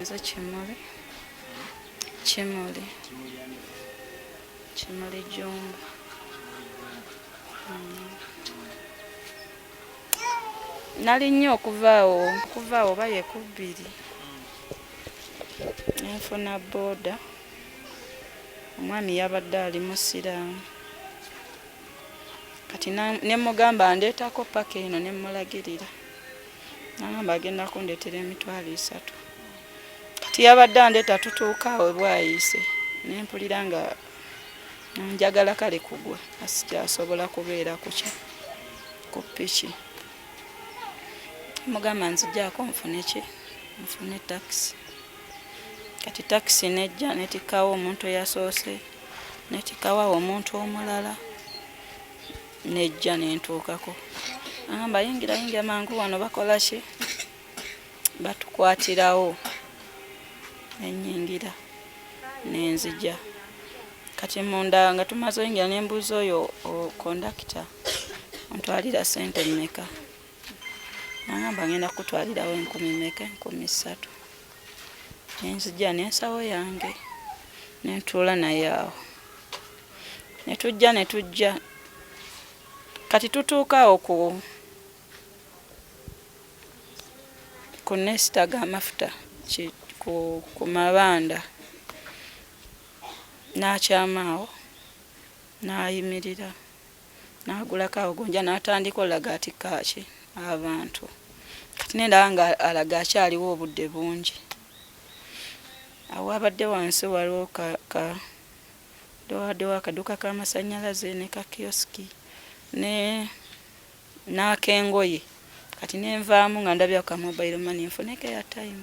Nze Kimuli. Kimuli. Kimuli Jumba. Mm. Nali nnyo okuvaawo okuvaawo oba ye ku bbiri ne nfuna booda. Omwami yabadde ali Musiraamu. Kati ne mmugamba andeetako ppaka eno ne mmulagirira. nagamba agenda kundetera emitwalo esatu kati yabadde andeeta tutuuka awe bwayiise nempulira nga njagala kale kugwa asikyasobola kubeera kuki ku piki mugamba nzijako nfune ki nfune takisi kati takisi nejja netikawo omuntu eyasoose netikawo awo omuntu omulala nejja nentuukako amba yingira yingira mangu wano bakola ki batukwatirawo nenyingira nenzija kati munda nga tumaze oyingira nembuuza oyo kondakita ontwalira sente mmeka nangamba ngenda kukutwalirawo enkumi meka enkumi ssatu nenzija nensawo yange nentuula naye awo ne tujja ne tujja kati tutuuka awo ku ku nesita g'amafuta ku mabanda n'akyama awo n'ayimirira n'agulako awo gonja n'atandika olaga ati kaaki abantu kati nendaba nga alaga akyaliwo obudde bungi awo abadde wansi waliwo ka, ka Babawaddewo akaduuka k'amasannyalaze ne ka kiyosiki ne n'ak'engoye kati ne nvaamu nga ndabye ako ka mobile money nfuneko airtime.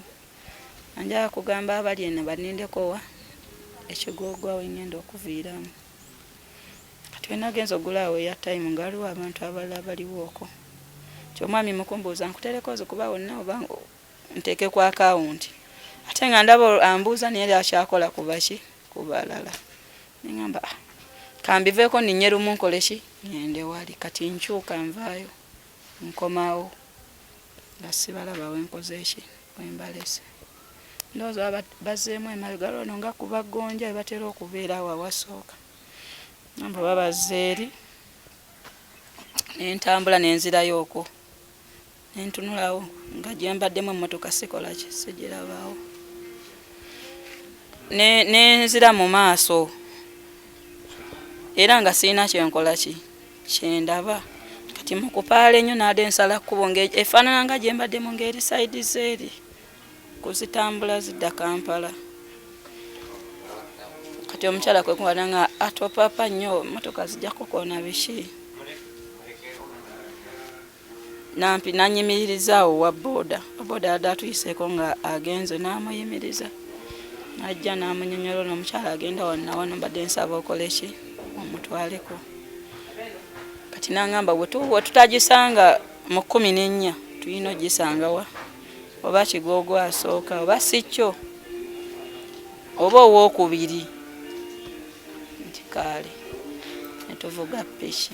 Nga njagala kugamba abali eno bannindeko wa Kigoogwa we ŋŋenda okuviiramu. Kati we nagenze okugula awo airtime nga waliwo abantu abalala abaliwo okwo. Nti omwami mu kumbuuza nkuteereko nze kuba wonna oba nteeke ku akawunti ate nga ndaba ambuuza naye yali akyakola kubaki ku balala neŋamba ah, kambiveeko ninye lumu nkole ki ŋende wali kati nkyuka nvaayo nkomawo nga sibalaba wenkoze ki wembalese ndowooza baba bazzeemu emabega lwono nga kuba gonja ebatera okubeera awo awasooka amba babazze eri nentambula nenzirayo okwo ne ntunulawo nga gye mbaddemu emmotoka sikola ki sigirabaawo ne nzira mu maaso era nga sirina kyenkola ki kyendaba kati mu kupaala ennyo naade nsala kkubo efaanana nga gye mbaddemu ng'eri saidi zeeri kuzitambula zidda kampala kati omukyala kwe kuwala nga atopapa nnyo motoka zijja kukoona biki nampi nanyimiriza awo wa boda boda yadde atuyiseeko nga agenze namuyimiriza najja namunyonyola ono omukyala agenda wanawano mbadde nsaba okoleki omutwaleko kati nangamba wetutagisanga mu kumi nenya tulina ogisangawa oba kigogo asooka oba sikyo oba owokubiri nti kaale netuvuga piki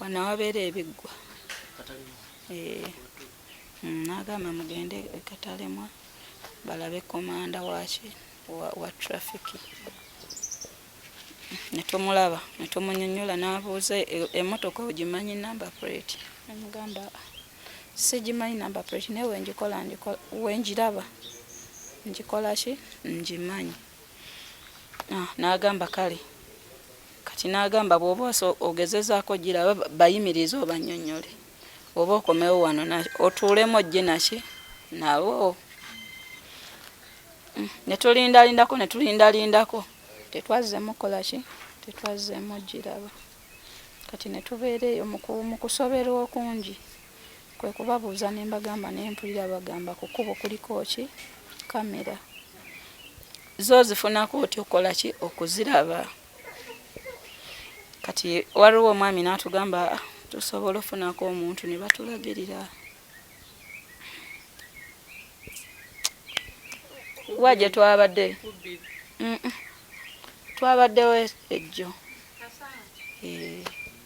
wano wabeera ebiggwa eh, mm, nagamba mugende katalemwa balabe komanda waki wa trafiki netumulaba netumunyonyola nabuuza e-, emotoka ogimanyi number plate amugamba sigimanyi number plate naye wenjikola wenjiraba njikola ki ngimanyi Ah, n'agamba kale kati n'agamba bw'oba ogezezaako giraba bayimirize obanyonyole oba okomewo wano otuulemu ojje naki nawo mm, ne tulindalindako ne tulindalindako tetwazzeemu kukola ki tetwazzeemu giraba kati ne tubeera eyo mu kusoberwa okungi Kwe kubabuuza ne mbagamba naye mpulira bagamba ku kkubo kuliko ki kkamera. Zo ozifunako otya okukola ki okuziraba? Kati waliwo omwami n'atugamba ah, tusobola ofunako omuntu ne batulagirira. Wa gye twabadde? Twabaddewo ejjo. Eh.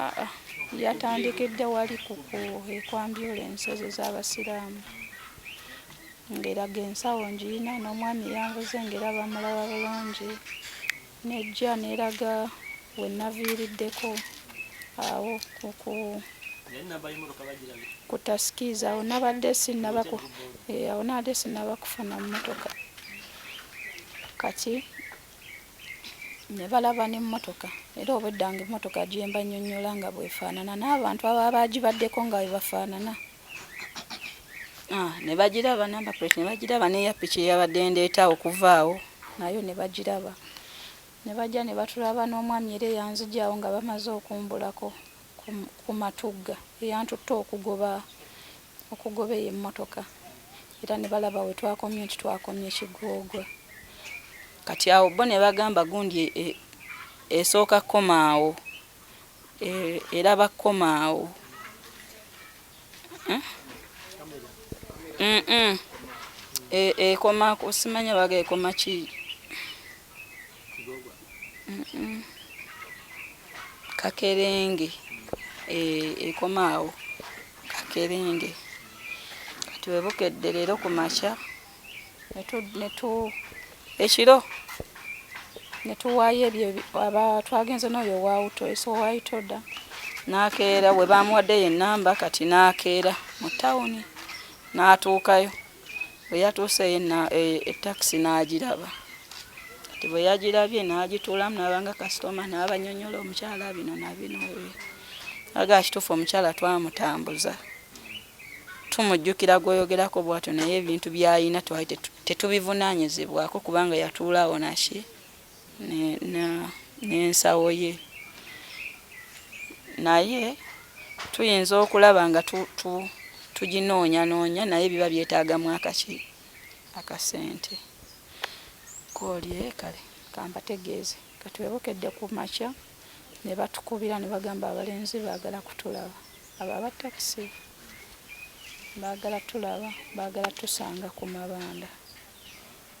Aa, yatandikidde wali ku ekwambyula ensozi z'abasiraamu ng'eraga ensawo ngirina n'omwami yanvuze ng'era bamulaba bulungi nejja n'eraga we naviiriddeko awo ku ku tasikiiza awo nabadde sinnaba eh, awo nabadde sinnaba kufuna mmotoka kati ne balaba n'emmotoka era obwedda nga emmotoka gye mbannyonnyola nga bwefaanana n'abantu ababa bagibaddeko nga bwe bafaanana ah, ne bagiraba namba plate ne bagiraba n'eya piki eyabadde ndeeta okuvaawo nayo ne bagiraba ne bajja ne batulaba n'omwami era eyanzigyawo nga bamaze okumbulako ku matugga eyantutte okugoba okugoba eyo emmotoka era ne balaba we twakomye nti twakomye kigoogwa kati awo bo ne bagamba gundi e, e, esooka kukomaawo e, era bakukomaawo eh? ekoma kusimanya baga ekoma ki kakerenge eh, ekomaawo kakerenge kati webukedde leero ku makya ekiro netuwaayo ebyo aba twagenze n'oyo wawuto esowayitoda nakeera we bamuwaddeyo enamba kati nakeera mu tawuni natuukayo Bwe yatuuseyo takisi n'agiraba kati bwe yagirabye n'agituulamu n'aba nga kasitoma n'abanyonyola omukyala bino na bino aga kituufu omukyala twamutambuza tumujjukira gwoyogerako bwatyo naye ebintu byayina twali tetubivunaanyizibwako kubanga yatuulaawo naki n'ensawo ye naye tuyinza okulaba nga tuginoonyanoonya naye biba byetaagamu akaki akasente koolye kale kambategeeze katwebokedde ku makya ne batukubira ne bagamba abalenzi baagala kutulaba abo aba takisi baagala tulaba baagala tusanga ku mabanda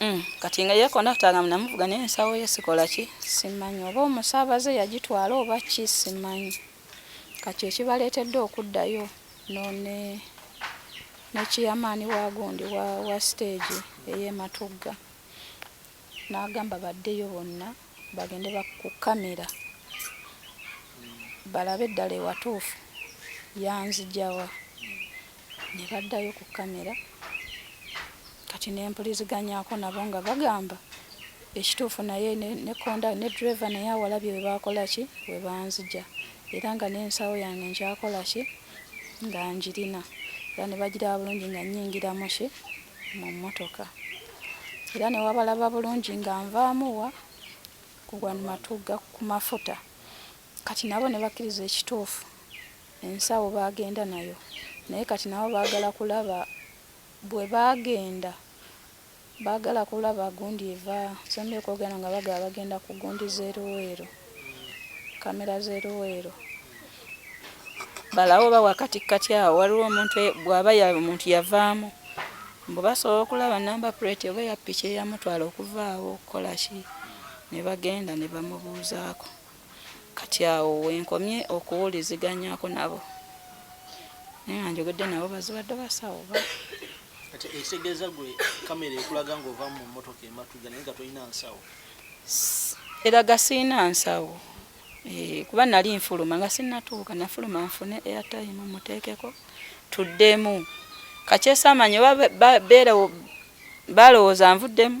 Mm, kati nga yekonakta nga munamuvuga naye ensawo ye sikola ki simanyi oba omusaabaze yagitwala oba ki simanyi kati ekibaleetedde okuddayo none nekiyamaani wa gundi wa, wa siteegi eyematugga n'agamba baddeyo bonna bagende ku kamera balabe eddala ewatuufu yanzijawa ne baddayo ku kkamera kati ne mpuliziganyaako nabo nga bagamba ekituufu naye ne konda ne ddereva naye awalabye we baakola ki we banzija era nga n'ensawo yange nkyakola ki nga ngirina era ne bagiraba bulungi nga nnyingiramu ki mu mmotoka era ne wabalaba bulungi nga nvaamu wa kugwa matugga ku mafuta kati nabo ne bakkiriza ekituufu Ensawo baagenda nayo naye kati nabo baagala kulaba bwe baagenda baagala kulaba gundi eva Ssembabule kwogera nga bagamba bagenda ku gundi z'e Luweero, kkamera z'e Luweero. Balabe oba wakatikkati awo waliwo omuntu e, bw'aba omuntu yavaamu mbu basobola okulaba namba puleeti oba eya ppiki eyamutwala okuva awo okukola ki ne bagenda ne bamubuuzaako. kati awo wenkomye okuwuliziganyako nabo naye nga njogedde nabo bazibadde basawo ba kati ekitegeeza gwe kamera ekulaga ngaova mu motoka ematuga naye nga tolina nsawo eraga siina nsawo eh, kuba nali nfuluma nga sinatuuka nafuluma nfune airtime muteekeko tuddemu kakyesamanya oba beerewo balowooza nvuddemu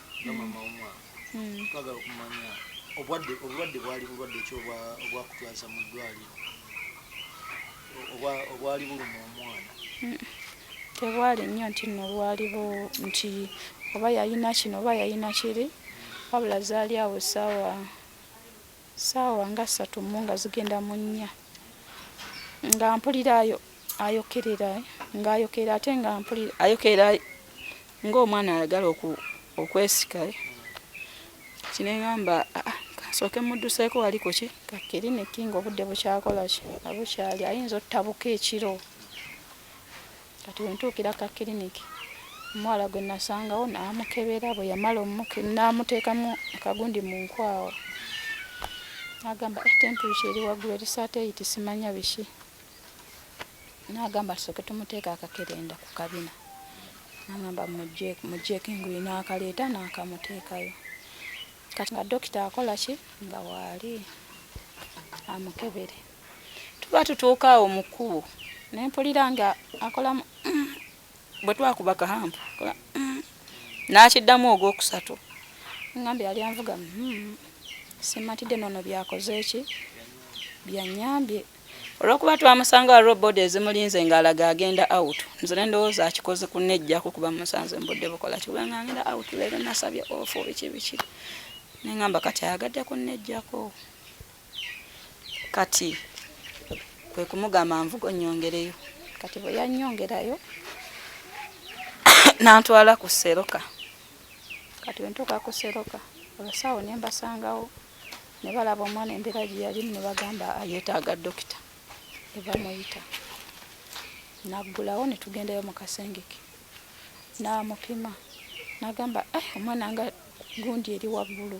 nga mama womwana hmm. twagala okumanya obwadde obulwadde bwali bulwadde ki obwakutwaza mu ddwaliro obwali buluma omwana hmm. tebwali nnyo nti no bwaliwo nti oba yayina kino oba yayina kiri wabula zaali awo saawa Ssaawa nga ssatu mu nga zigenda mu nnya nga mpulira ayo ayokerera ng'ayokerera ate nga mpulira ayokerera ng'omwana ayagala okwesika kinengamba ah, ah, kasooke mudduseeko wali kuki kakiriniki ng'obudde bukyakola ki abukyali ayinza ottabuka ekiro Kati we ntuukira ku kakiriniki, omuwala gwe nasangawo namukebera, bwe yamala n'amuteekamu akagundi mu nkwawa n'agamba eh, temperature eri waggulu eri saateeyiti simanya biki n'agamba tusooke tumuteeka akakerenda ku kabina n'agamba mujjeeko enguyi n'akaleeta n'akamuteekayo kati nga dokita akola ki nga waali amukebere tuba tutuuka awo mu kkubo ne mpulira nga akolamu mm, bwe twakuba kahampu mm, n'akiddamu ogwokusatu ngambye yali anvuga mm, simatidde noono byakoze eki byanyambye olwokuba twamusanga wa robod ezimulinze ng'alaga agenda out nze ne ndowooza akikoze kunejjako kuba musanze mbudde bukola kikubanga ngenda out leero nasabye ofu biki biki nengamba kati ayagadde kunejjako kati kwe kumugamba nvuga onnyongereyo kati bwe yannyongerayo n'antwala ku seroka kati bwe ntuuka ku seroka abasawo ne mbasangawo ne balaba omwana embeera gye yalimu ne bagamba yeetaaga dokita eva muyita naggulawo ne tugendayo mu kasengeke n'amupima n'agamba eh, omwana nga gundi eri waggulu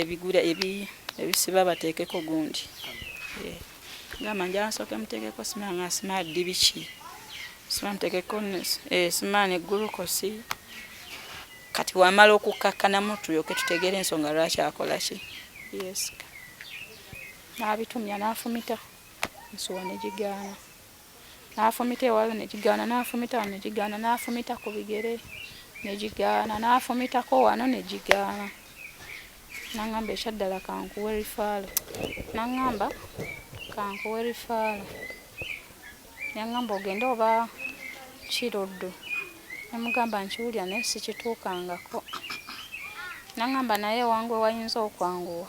ebigula ebisiba bateekeko gundi eh, gamba njala nsooke muteekeko sima nga sima ddi biki sima muteekeko eh, sima ne gulukosi kati wamala okukkakkanamu tulyoke tutegeere ensonga lwaki akola ki yesika n'abitumya n'afumita nsuwa ne gigaana n'afumita ewala ne gigaana, n'afumita wano ne gigaana, n'afumita ku bigere ne gigaana, n'afumitako wano ne gigaana. N'aŋŋamba ekyaddala kankuwe rifaalo. N'aŋŋamba kankuwe rifaalo. Yaŋŋamba ogende oba Kiruddu. Ne mugamba nkiwulira naye sikituukangako. N'aŋŋamba naye ewange wayinza okwanguwa.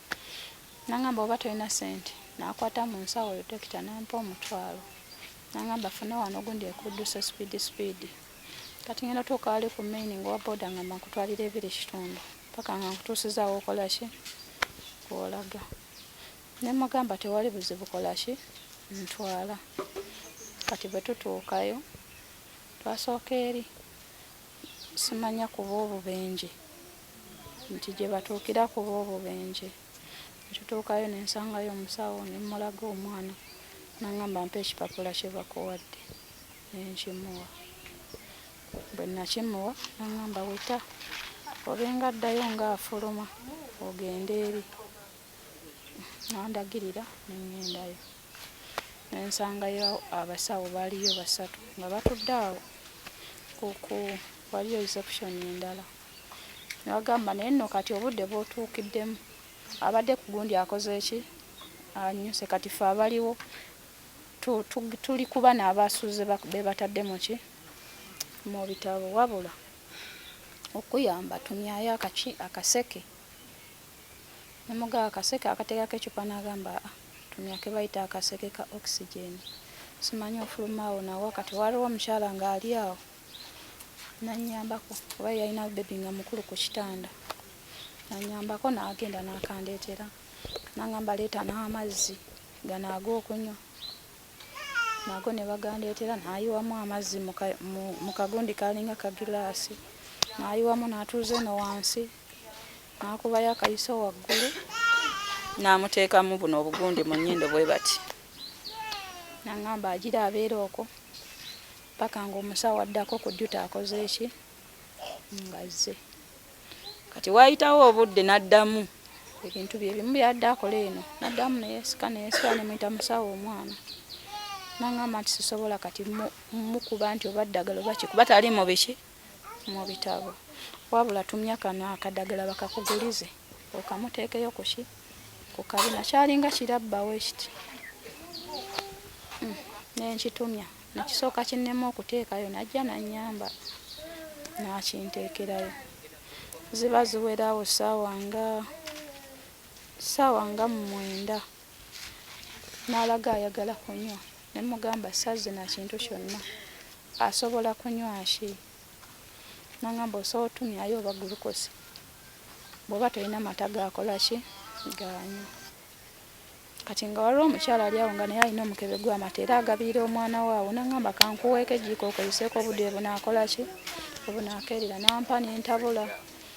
nangamba oba tolina sente nakwata mu nsawo yo dokita nampa omutwalo nangamba funa wano gundi ekuduse speed speed kati ngenda tuuka wali ku maini ngaowa boda ngamba nkutwalira ebiri kitundu paka nga nkutuusizaawo okolaki kwolaga nemugamba tewali buzibu kolaki ntwala kati bwe tutuukayo twasooka eri simanya kuba obubenje nti gye batuukira kuba obubenje ne tutuukayo ne nsangayo omusawo ne mmulaga omwana n'angamba mpa ekipapula kye bakuwadde ne nkimuwa bwe nakimuwa n'angamba weta obenga addayo ng'afuluma ogende eri n'andagirira ne ŋŋendayo ne nsangayo abasawo baaliyo basatu nga batudde awo kuku waliyo reception endala ne bagamba naye nno kati obudde bwotuukiddemu abadde ku gundi akoze eki anyuse kati fe abaliwo tuli kuba n'abasuuze be batadde mu ki mu bitabo wabula okuyamba tumyayo akaki akaseke nemugaa akaseke akateekako ecupa n'agamba a ah, Ntumya ke bayita akaseke ka oxygen simanyi ofuluma awo nawa kati waliwo omukyala nga ali awo nanyambako oba yalina bebi nga mukulu ku kitanda nanyambako nagenda nakandeetera nangamba leeta n'amazzi gano ag'okunywa nago ne bagandeetera nayiwamu amazzi mu kagundi kalinga kagilaasi nayiwamu natuuza eno wansi n'akubayo akayiso waggulu n'amuteekamu buno obugundi mu nnyindo bwe bati nangamba agira abeera okwo paka ng'omusawo addako ku juta akoze eki ngazze kati waayitawo obudde n'addamu ebintu bye bimu byadde akola eno naddamu neyesika neyesika nemuyita musawo omwana nangamba nti sisobola kati mukuba nti oba ddagala oba kikuba tali mu biki mu bitabo wabula tumya kano akadagala bakakugulize okamuteekeyo kuki ku kabina kyalinga kirabbawo ekiti hmm, nenkitumya nekisooka kinnema okuteekayo najja nanyamba nakinteekerayo ziba ziwerawo saawa nga saawa nga mumwenda n'alaga ayagala kunywa ne mugamba sazina kintu kyonna asobola kunywa ki nangamba osobola otumyayo oba gulukosi bwoba tolina mata gakola ki ganywa kati nga waliwo omukyala ali awo nga naye alina omukebe gwamata era agabiira omwana waawo nangamba kankuweeko ejjiiko okozeseeko obudde bunakola ki obunakeerera nampa nentabula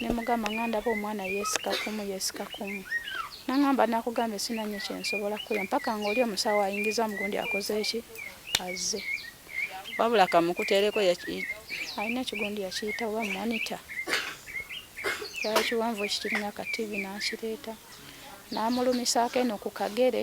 ne mugamba nga ndaba omwana yeesika kumu yeesika kumu nangamba nakugambye sina nnyo kyensobola kukola mpaka ngaoli omusawo ayingiza mugundi akoze eki azze wabula kamukuteereko alina ekigundi yakiyita oba monita kyali kiwanvu ekikirina kativi nakireeta namulumisaako eno ku kagere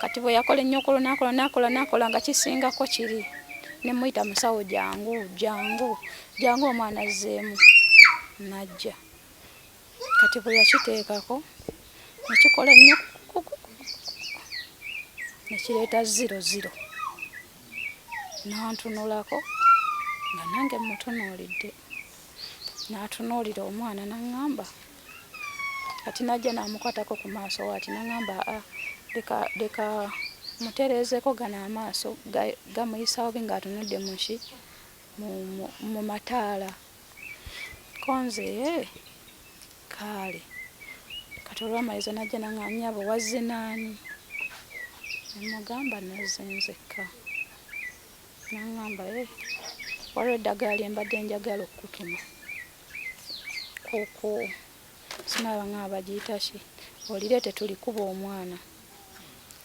kati bwe yakola ennyo ku lunaku lwonakola nakola nga kisingako kiri ne muyita musawo jangu jangu jangu omwana azzeemu najja kati bwe yakiteekako nekikola ennyo nekireeta ziro ziro nantunulako nga nange mutunuulidde natunuulira omwana naŋŋamba kati najja namukwatako ku maaso wati nangamba a ah, leka leka mutereezeko gano amaaso gamuyisawo bi ngaatunudde muki mu mataala konze eh, kaale kati olwamaliza najja nanganyabo wazze naani nemugamba nazze nzekka nangamba eh, waliwo eddagala lyembadde njagala okukutuma kuku sinaba nga bagiyita ki olireete tulikuba omwana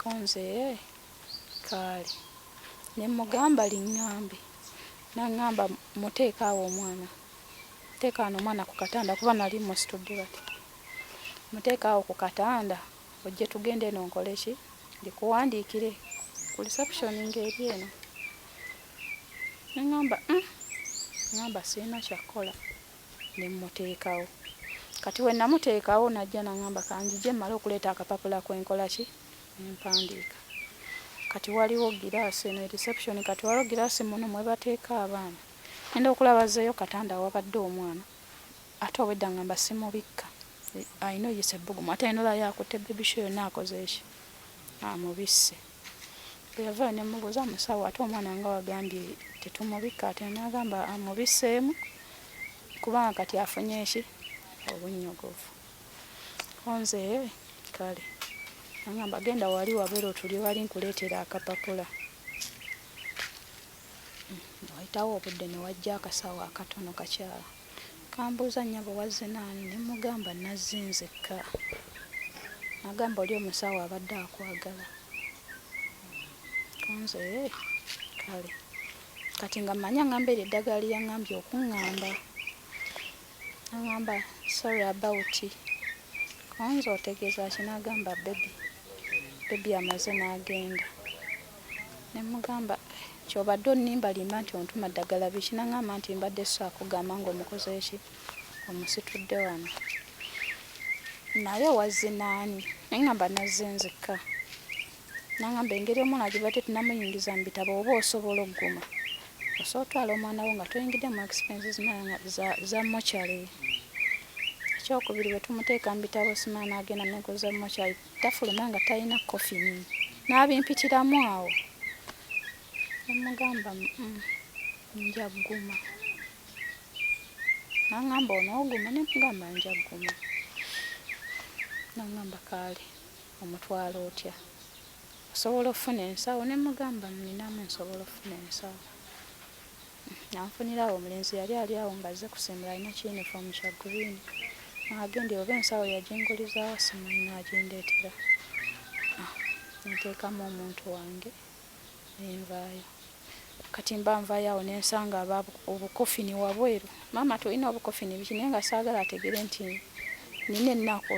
konze eh, kaali ne mugamba liŋŋambe naŋŋamba muteeka awo omwana teeka ano omwana ku katanda kuba nali musitudde bati muteeka awo ku katanda ojje tugende eno nkole ki ndikuwandiikire ku reception ng'eri eno neŋamba mm ŋamba sirina kyakkola nemmuteekawo kati wenamuteekawo najja naŋamba kanjije mmale okuleeta akapapula kwenkolaki nempandiika kati waliwo giraasi eno reception kati waliwo giraasi muno mwebateeka abaana enda okulaba zeeyo katanda awabadde omwana ate obwedda ŋamba simubikka ayina oyisa ebbugumu ate ayina olaba yakutte bebisho yonna akoze eki amubisse bweyavaayo nemubuuza musawo ate omwana nga wagambye tetumubikka ate nagamba amubiseemu kubanga kati afunye eki obunnyogovu onze kale angamba genda wali wabeera otuli wali nkuleetera akapapula wayitawo obudde newajja akasawo akatono kakyala Kambuuza nnyabo wazze n'ani ne mmugamba nazze nzekka. N'agamba oli omusawo abadde akwagala. Kanze ee kale kati nga mmanyi ang'amba eryo eddagala lye yang'ambye okung'amba. Ang'amba sorry about Kanze otegeeza ki? N'agamba bbebi, bbebi amaze n'agenda. Nemugamba kyobadde onimba limba nti ontuma ddagala biki nangamba nti mbadde sakugamba nga omukozeeki omusitudde wano naye wazze naani naye ngamba nazze nzekka nangamba engeri omwana gibadde tunamuyingiza mu bitabo oba osobola okuguma osobola otwala omwana wo nga toyingidde mu expenses za mochary ekyokubiri bwetumuteeka mu bitabo simana agenda negoza mochary Tafuluma nga talina kkofini n'abimpitiramu awo ne mmugamba nja gguma. N'ang'amba onooguma ne mmugamba nja gguma. N'ang'amba kaale omutwala otya, osobola okufuna ensawo ne mmugamba nninamu nsobola okufuna ensawo. Nanfunirawo omulenzi yali ali awo ng'azze kusimbula alina kiyinifoomu kya gguliini. Agenda oba ensawo yagingulizaawa simanyi n'agindeetera ne nteekamu omuntu wange ne nvaayo. Kati mba nvaayo awo ne nsanga aba obukofini wabweru. Maama tulina obukofini biki naye nga saagala ategere nti nnina ennaku.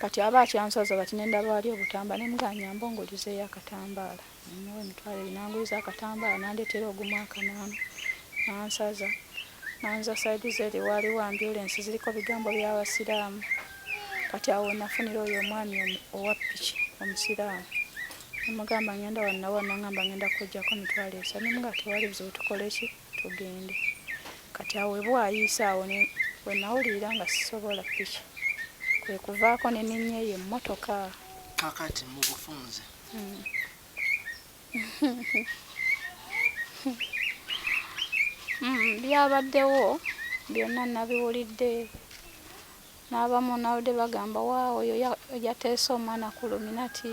kati aba akyansaza bati nendaba wali obutamba nemuganyamba ongulizeyo akatambaala nemuwa emitwalo ebiri nanguliza akatambaala nandetera ogumu akanaanu nansaza nanza saidi zeri waliwo ambulensi ziriko bigambo byabasiraamu kati awo wenafunira oyo omwami owa piki omusiraamu nemugamba ngenda wanawa nangamba ngenda kujjako mitwalo esa nemuga tewali buzibu tukoleki tugende kati awo webwayiise awo wenawulirira nga sisobola piki kwekuvaako neninyeyo emmotoka kakati mubufunze hmm. hmm, byabaddewo byonna nabiwulidde n'abamu nawudde bagamba waawo oyo yateese omwana ku luminati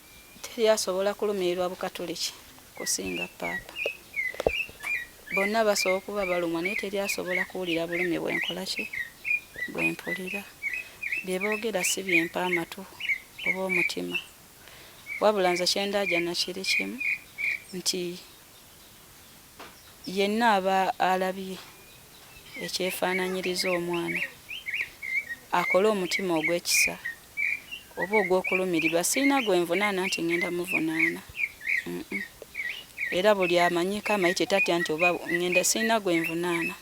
Teri asobola kulumirirwa Bukatuliki kusinga Paapa. Bonna basobola okuba balumwa naye teri asobola kuwulira bulumi bwe nkola ki? Bwe mpulira. Bye boogera si bye mpa amatu oba omutima. Wabula nze kye ndaajana kiri kimu nti. Yenna aba alabye ekyefaananyiriza omwana, akole omutima ogw'ekisa oba ogw'okulumirirwa, sirina gwe nvunaana nti ŋŋenda muvunaana, uh-uh, era buli amanyiiko amayitire tatya nti oba ŋŋenda, sirina gwe nvunaana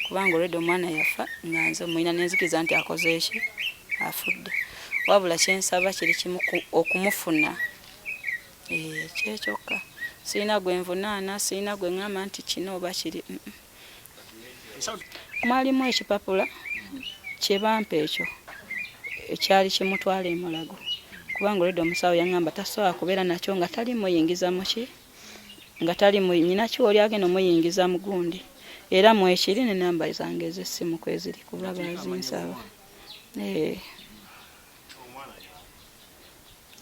kubanga already omwana yafa nga nze mmulina ne nzikiriza nti akoze ki? Afudde. Wabula kye nsaba kiri kimu, okumufuna. Eeh kyekyokka sirina gwenvunaana sirina gwengamba nti kino oba kiri mm mwalimu ekipapula kyebampa ekyo ekyali kimutwala emulago kubanga olwedda omusawo yangamba tasobola kubeera nakyo nga tali muyingiza muki nga tali nyina kiwa oli agenda omuyingiza mugundi era mwekiri ne namba zange ezessimu kweziri kuba bazinsaba ee eh.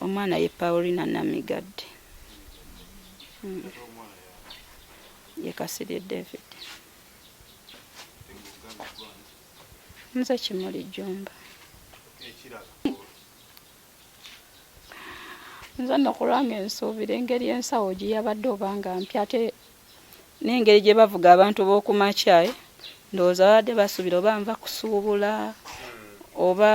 Omwana ye Paulina Namigadde mm. ye Kasirye David nze Kimuli Jjumba nze no kulwange nsuubira engeri ensawo gye yabadde oba nga mpya ate n'engeri gye bavuga abantu b'oku makyayi eh? ndowooza babadde basuubira oba nva kusuubula oba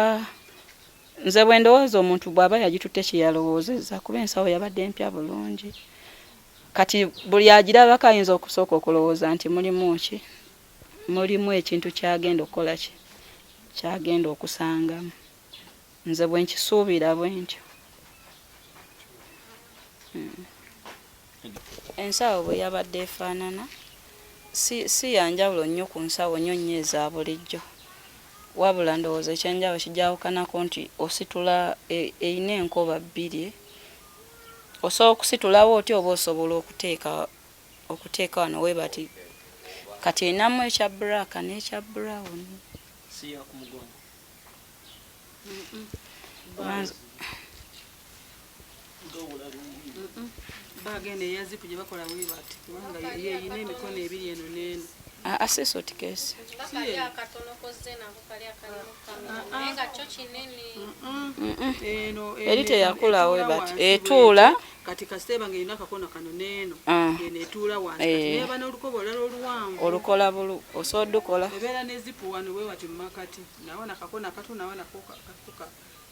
nze bwe ndowooza omuntu bw'aba yagitutte kye yalowoozezza kuba ensawo yabadde empya bulungi kati buli agirabako ayinza okusooka okulowooza nti mulimu ki mulimu ekintu kyagenda okukola ki kyagenda okusangamu nze bwe nkisuubira bwe ntyo hmm. Ensawo bwe yabadde efaanana si, si ya njawulo nnyo ku nsawo nnyo nnyo eza bulijjo wabula ndowooza ekyenjawulo kijawukanako nti ositula erina e, enkoba bbiri osobola okusitulawo oti oba osobola okuteeka okuteeka wano webati kati erinamu ekya black n'ekya brown siyakumugongo bagenda eyaziku gye bakola wibati kubanga yeyina emikono ebiri eno neeno ah, asesa otikesi eri teyakulawo bati etuula kati kasiteeba nga erina akakona kano neeno ah. eno etuula wansi eh. neba n'olukoba olala oluwanvu olukola bulu osobola dukola ebeera nezipu wano wewati mumakati nawo nakakona katu nawo nakoka